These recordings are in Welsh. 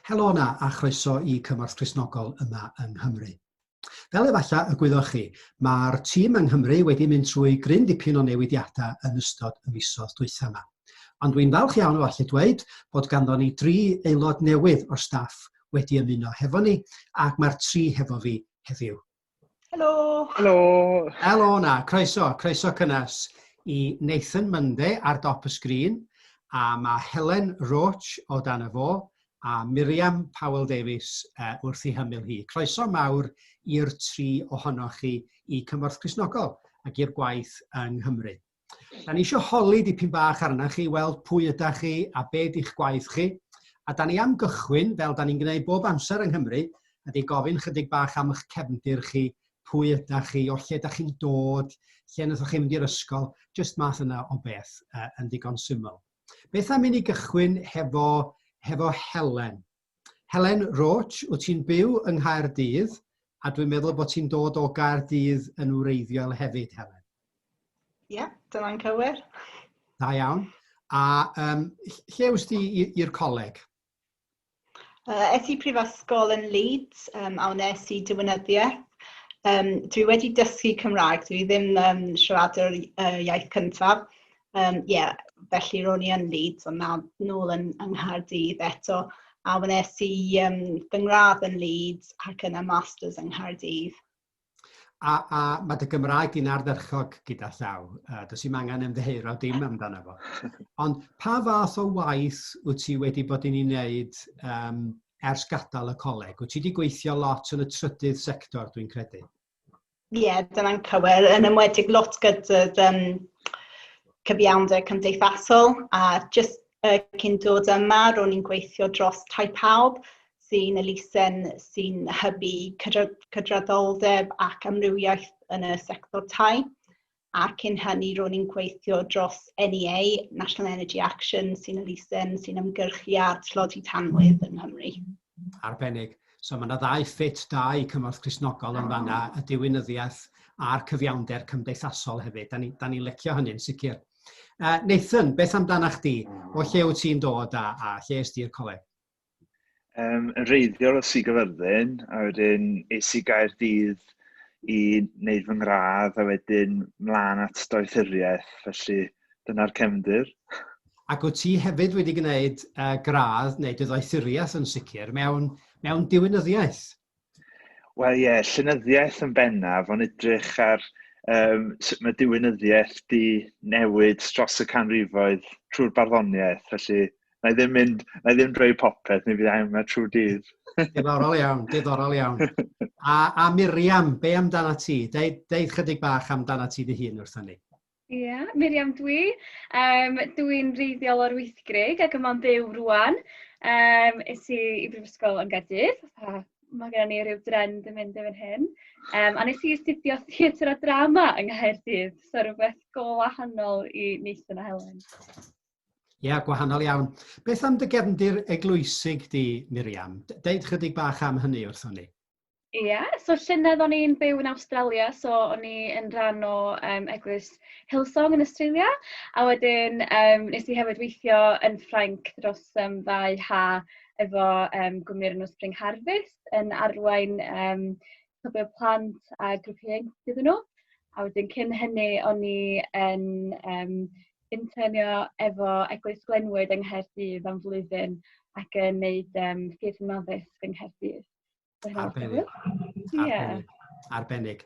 Helo yna a chroeso i Cymorth Cristnogol yma yng Nghymru. Fel efallai y gwyddoch chi, mae'r tîm yng Nghymru wedi mynd trwy gryn dipyn o newidiadau yn ystod y misoedd dwytha yma. Ond dwi'n falch iawn o allu dweud bod ganddo ni dri aelod newydd o'r staff wedi ymuno hefo ni ac mae'r tri hefo fi heddiw. Helo! Helo! Helo na, croeso, croeso cynnes i Nathan Munde ar dop y sgrin, a mae Helen Roach o dan y fo, a Miriam Powell Davies uh, wrth ei hymyl hi. Croeso mawr i'r tri ohonoch chi i Cymorth Crisnogol ac i'r gwaith yng Nghymru. Da ni eisiau holi dipyn bach arna chi, weld pwy yda chi a be di'ch gwaith chi. A da ni am gychwyn, fel da ni'n gwneud bob amser yng Nghymru, ydy gofyn chydig bach am eich cefndir chi, pwy yda chi, o lle da chi'n dod, lle wnaethoch chi mynd i'r ysgol, jyst math yna o beth uh, yn ddigon syml. Beth am i ni gychwyn hefo, hefo Helen? Helen Roach, wyt ti'n byw yng Nghaerdydd a dwi'n meddwl bod ti'n dod o Gaerdydd yn wreiddiol hefyd, Helen. Ie, yeah, dyna'n cywir. Da iawn. A um, lle wyt ti i'r coleg? Uh, es i prifysgol yn Leeds um, a wnes i diwynyddiaeth. Um, dwi wedi dysgu Cymraeg, dwi ddim um, siaradwr uh, iaith cyntaf, Yym ie, felly ro'n i yn Leeds, ond nawr nôl yn yng Nghaerdydd eto, a wnes i yym fy ngradd yn Leeds ac yna masters yng Nghaerdydd. A a ma' dy Gymraeg di'n ardderchog gyda llaw, yy does dim angen ymddiheuro dim amdano fo. Ond pa fath o waith wyt ti wedi bod yn ei wneud yym ers gadael y coleg? Wyt ti wedi gweithio lot yn y trydydd sector dwi'n credu? Ie, dyna'n cywir. Yn enwedig lot gyda um, cyfiawnder cymdeithasol a jyst uh, cyn dod yma, ro'n i'n gweithio dros Tai Pawb sy'n elusen sy'n hybu cydraddoldeb ac amrywiaeth yn y sector tai. a'r cyn hynny ro'n i'n gweithio dros NEA, National Energy Action, sy'n elusen sy'n ymgyrchu ar tlodi tanwydd yng Nghymru. Arbennig. So mae yna ddau ffit da i cymorth Crisnogol yn fanna, y diwinyddiaeth a'r cyfiawnder cymdeithasol hefyd. Da ni'n ni, ni lecio hynny'n sicr. Uh, Nathan, beth amdana chdi? O lle wyt ti'n dod a, a lle ysdi'r coleg? um, yn reiddiol o Sir Gaerfyrddin, a wedyn es i Gaerdydd i wneud fy ngradd, a wedyn mlaen at doethuriaeth, felly dyna'r cefndir. Ac wyt ti hefyd wedi gwneud uh, gradd neu dy ddoethuriaeth yn sicr mewn, mewn diwinyddiaeth? Wel ie, llenyddiaeth yn bennaf, ond edrych ar um, sut mae diwinyddiaeth di newid dros y canrifoedd trwy'r barddoniaeth, felly na i ddim mynd, na i ddim drwy popeth, neu fydd yma trwy dydd. diddorol iawn, diddorol iawn. A, a Miriam, be amdana ti? Deud, deud chydig bach amdana ti dy hun wrthyn ni. Ie, Miriam dwi. Yym dwi'n wreiddiol o'r Wyddgrug ac yma'n byw rŵan. Yym es i i brifysgol yn Gaerdydd a ma' gennon ni ryw dren 'di mynd erbyn hyn. Yym a nes i astudio theatr a drama yng Nghaerdydd, so rwbeth go wahanol i Nathan a Helen. Ie, yeah, gwahanol iawn. Beth am dy gefndir eglwysig di, Miriam? Deud chydig bach am hynny wrthon ni. Ia, so llynedd o'n i'n byw yn Awstralia, so o'n i yn rhan o yym eglwys Hillsong yn Awstralia, a wedyn yym wnes i hefyd weithio yn Ffrainc dros yym ddau ha efo yym gwmni o'r enw Spring Harvest yn arwain yym cwpwl plant a grŵp ieuenctid iddyn nhw. A wedyn cyn hynny o'n i yn yym internio efo Eglwys Glenwood yng Nghaerdydd am flwyddyn ac yn wneud yym ffyrdd yn addysg yng Nghaerdydd. Arbennig. Arbennig. Arbennig.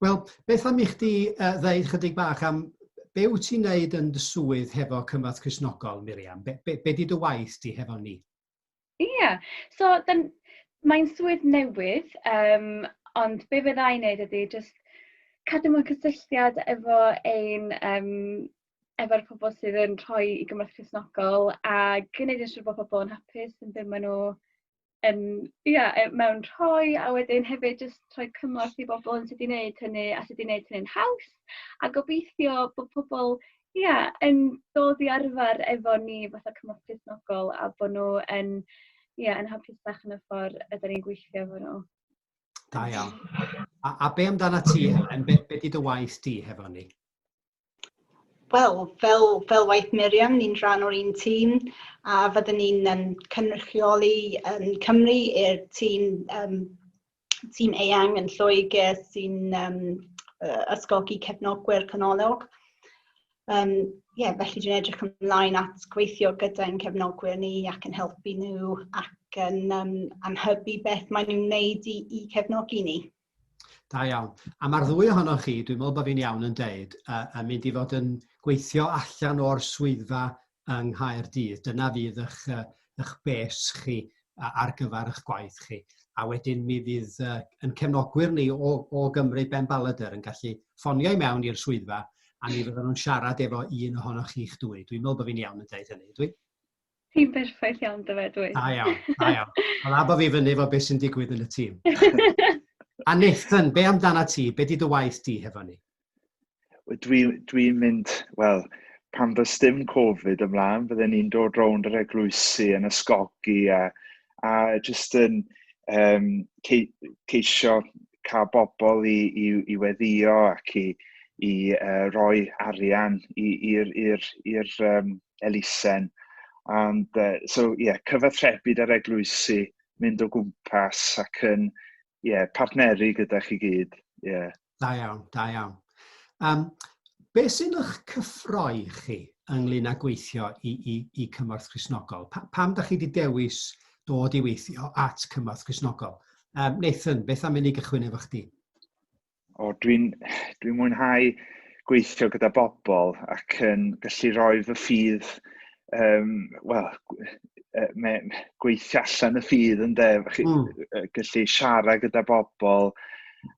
Wel, beth am i chdi uh, ddeud chydig bach am be wyt ti'n neud yn dy swydd hefo Cymrath Crisnogol, Miriam? Be, be, be di dy waith di hefo ni? Ie, yeah. so mae'n swydd newydd, um, ond be fydda i'n neud ydy just cadw mewn cysylltiad efo ein um, efo'r pobl sydd yn rhoi i gymorth Cresnogol a gwneud yn siŵr bod pobl yn hapus yn byd maen nhw yn ia e- mewn rhoi a wedyn hefyd jyst rhoi cymorth i bobol yn sud i neud hynny a sud i neud hynny'n haws a gobeithio bo' pobol ia yn dod i arfer efo ni fatha cymorth cefnogol a bo' nw yn ia yn hapusach yn y ffor ydan ni'n gweithio efo nw. Da iawn. A a be' amdanat ti Helen be' be' 'di dy waith di hefo ni? Wel, fel, fel waith Miriam, ni'n rhan o'r un tîm a fyddwn ni'n um, cynrychioli um, Cymru i'r tîm, um, tîm eang yn Lloegr sy'n um, ysgogi cefnogwyr canolog. Um, yeah, felly dwi'n edrych ymlaen at gweithio gyda'n cefnogwyr ni ac yn helpu nhw ac yn um, anhybu beth maen nhw'n wneud i, i cefnogi ni. Da iawn. A mae'r ddwy ohonoch chi, dwi'n meddwl bod fi'n iawn yn deud, uh, yn mynd i fod yn gweithio allan o'r swyddfa yng Nghaerdydd. Dyna fydd eich, uh, eich bes chi uh, ar gyfer eich gwaith chi. A wedyn mi fydd uh, yn cefnogwyr ni o, o Gymru Ben Ballader yn gallu ffonio i mewn i'r swyddfa a mi fydden nhw'n siarad efo un ohonoch chi'ch dwy. Dwi'n meddwl bod fi'n iawn yn deud hynny, dwi? Ti'n berffaith iawn dy fe, dwi. Da iawn, da iawn. Wel, abo fi fyny fo beth sy'n digwydd yn y tîm. A Nathan, be amdana ti? Be di dy waith di hefo ni? Dwi'n dwi mynd, wel, pan fy stym Covid ymlaen, bydden ni'n dod rownd yr eglwysi yn ysgogi a a jyst yn um, ceisio cael bobl i, i, i weddio ac i, i uh, roi arian i'r um, elusen. And, uh, so, yeah, cyfathrebu ar eglwysi, mynd o gwmpas ac yn yeah, partneru gyda chi gyd. Yeah. Da iawn, da iawn. Um, be sy'n eich cyffroi chi ynglyn â gweithio i, i, i Cymorth Chrysnogol? Pa, pam da chi wedi dewis dod i weithio at Cymorth Chrysnogol? Um, Nathan, beth am i ni gychwyn efo chdi? o dwi'n dwi mwynhau gweithio gyda bobl ac yn gallu rhoi fy ffydd, um, wel, gweithio allan y ffydd yn de, mm. gallu siarad gyda bobl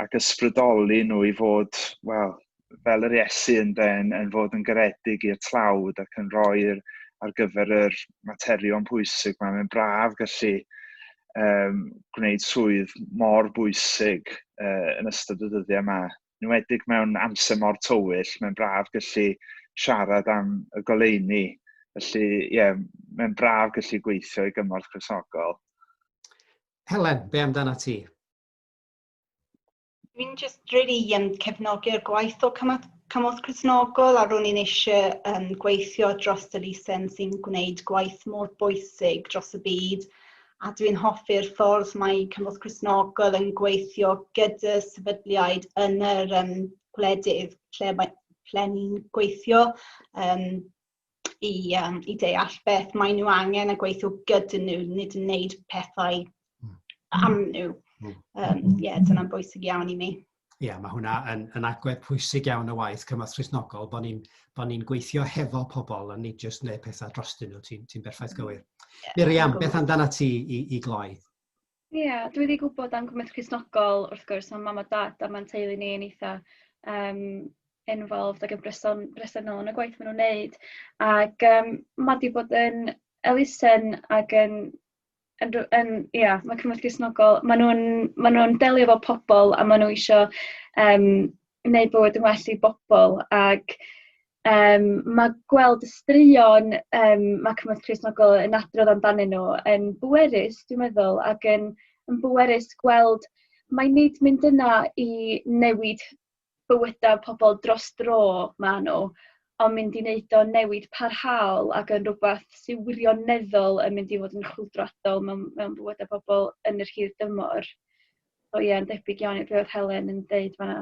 ac ysbrydoli nhw i fod, wel, fel yr Iesu yn, yn, yn fod yn garedig i'r tlawd ac yn rhoi'r ar gyfer yr, materion pwysig mae mae'n braf gallu um, gwneud swydd mor bwysig uh, yn ystod y dyddiau yma. Yn wedig mewn amser mor tywyll, mae'n braf gallu siarad am y goleuni. Felly, ie, yeah, mae'n braf gallu gweithio i gymorth chrysogol. Helen, be amdana ti? Dwi'n just really um, cefnogi'r gwaith o cymorth, cymorth Cresnogol a ro'n i'n eisiau um, gweithio dros y lisen sy'n gwneud gwaith mor bwysig dros y byd a dwi'n hoffi'r ffordd mae cymorth Cresnogol yn gweithio gyda sefydliaid yn yr um, gwledydd lle, mae, ple ni'n gweithio um, i, um, i deall beth maen nhw angen a gweithio gyda nhw, nid yn wneud pethau hmm. am nhw. Ie, um, yeah, dyna'n bwysig iawn i mi. Ie, yeah, mae hwnna yn, yn agwedd pwysig iawn o waith cymorth Rhysnogol, bod ni'n bo ni gweithio hefo pobl a ni jyst wneud pethau drostyn nhw, ti'n ti berffaith hmm. gywir. Yeah, Miriam, beth amdana ti i, i gloi? Ia, dwi 'di gwbod am gymaint o Gristnogol wrth gwrs, ma' mam a dad a ma'n teulu ni yn eitha yym involved ag yn bryson- bresennol yn y gwaith ma' nw'n neud ag yym ma' 'di bod yn elusen ag yn yn rw- yn ia ma' cymdeithas Cristnogol ma' nw'n ma' nw'n delio efo pobol a ma' n'w isio yym neud bywyd yn well i bobol ag Yym ma' gweld y straeon yym ma' Cyfoeth Cristnogol yn adrodd amdanyn n'w yn bwerus dwi'n meddwl ac yn yn bwerus gweld mai nid mynd yna i newid bywyda pobol dros dro ma' n'w on' mynd i neud o'n newid parhaol ac yn rwbath sy wirioneddol yn mynd i fod yn chwyldroadol mewn mewn bywyda pobol yn yr hir dymor. So ie yn debyg iawn i be' o'dd Helen yn deud fan 'na.